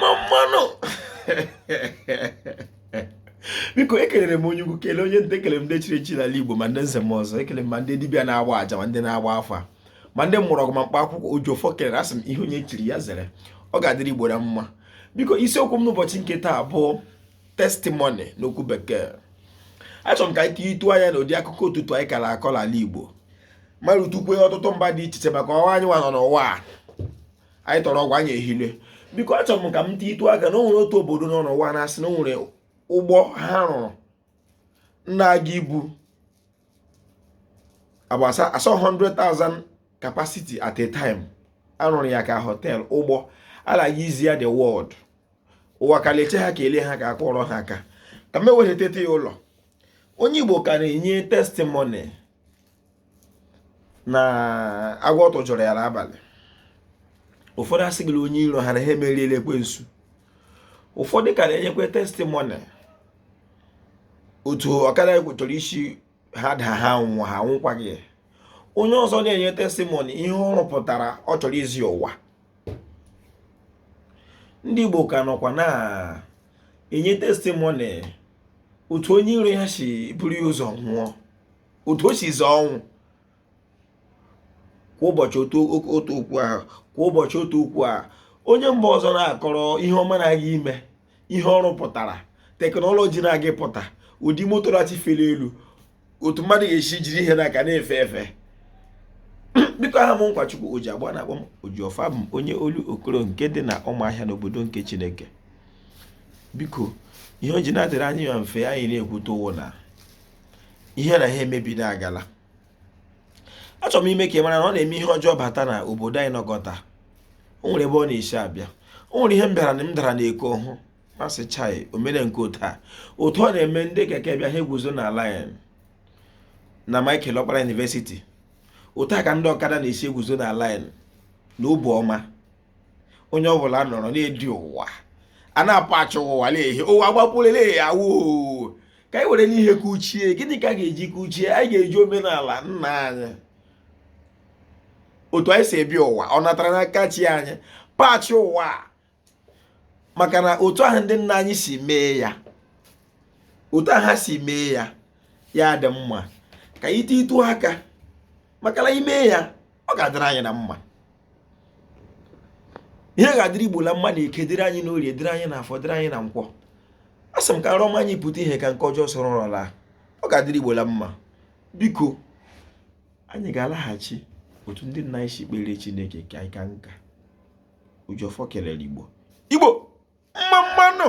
mma nụ biko ekelere m onye ukwu kelee onye nta ekele m ndị chiri echi n'ala Igbo ma ndị nze na ọzọ ekele m ma ndị dibịa na-agba aja ma ndị na-agba afa ma ndị mụrụ ọgwụ ma mkpa akwụkwọ Ojiọfọ kelere asị m ihe onye chiri ya zere ọ ga-adịrị Igbo na mma biko isiokwu m n'ụbọchị nke taa bụ testimony n'okwu bekee achọrọ m ka anyị tiitu anya na ụdị akụkọ ọtụtụ anyị ka na-akọ n'ala Igbo ma rutukwe ọtụtụ mba dị iche iche maka ụwa anyị nwa nọ n'ụwa a anyị tọrọ ụwa anyị ehile biko achọrọ m ka m tiitu aka na o nwere otu obodo nọ n'ụwa na-asị na o nwere ụgbọ ha rụrụ na-aga ibu agbasa asọ 100,000 capacity at a time a rụrụ ya ka hotel ụgbọ a na-aga izi ya the world ụwa ka leche ha ka e lee ha ka a kụọrọ ha aka ka m eweliteta ya ụlọ onye Igbo ka na-enye testimony na agwọ atọ chụrụ ya n'abalị ụfọdụ asị gị na onye iro ha na ha emeriela ekwensu ụfọdụ ka na-enyekwa testimony otu ọkada chọrọ isi ha daa ha nwụọ ha nwụkwaghị onye ọzọ na-enye testimony ihe ọ rụpụtara ọ chọrọ izi ụwa ndị Igbo ka nọkwa na-enye testimony otu onye iro ya si buru ya ụzọ nwụọ otu o si zọọ ọnwụ kwa ụbọchị otu okwu ahụ kwa ụbọchị otu okwu ahụ onye mba ọzọ na-akọrọ ihe ọma na-aga ime ihe ọ rụpụtara teknọlọji na-aga ịpụta ụdị moto na-achọ ife n'elu otu mmadụ ga-esi jiri ihe n'aka na-efe efe biko aha m Nkwachukwu Ọjị Agba a na-akpọ m Ojiọfọ bụ onye Olokoro nke dị na Ụmụahịa n'obodo nke Chineke biko ihe o ji na-adịrị anyị ya mfe anyị na-ekwute ọ wụ na ihe na ha emebi na-agala achọrọ m ime ka ị mara na ọ na-eme ihe ọjọọ bata na obodo anyị nọkọta o nwere ebe ọ na-esi abịa o nwere ihe m bịara na m dara n'eko hụ m asị chai o mere nke otu a otu ọ na-eme ndị keke bịa ha eguzo na line na Michael Okpara University otu a ka ndị ọkada na-esi eguzo na line na obu ọma onye ọ bụla nọrọ na-edi ụwa a na-apachi ụwa na-ehi ụwa gbapuru na-ehi awoo ka anyị werenụ ihe kuchie gịnị ka a ga-eji kuchie anyị ga-eji omenala nna anyị otu anyị si ebi ụwa ọ natara n'aka chi anyị pachie ụwa maka na otu ahụ ndị nna anyị si mee ya otu ahụ ha si mee ya ya dị mma ka anyị tiitu aka maka na ime ya ọ ga-adịrị anyị na mma ihe ga-adịrị igbo na mma na eke dịrị anyị n'orie dịrị anyị na afọ dịrị anyị na nkwọ a sị m ka nrọ ọma anyị pụta ihe ka nke ọjọọ soro nrọ laa ọ ga-adịrị igbo na mma biko anyị ga-alaghachi otu ndị nna anyị si kpere chineke ka anyị ka nka oji ọfọ kelere igbo igbo mma mma nụ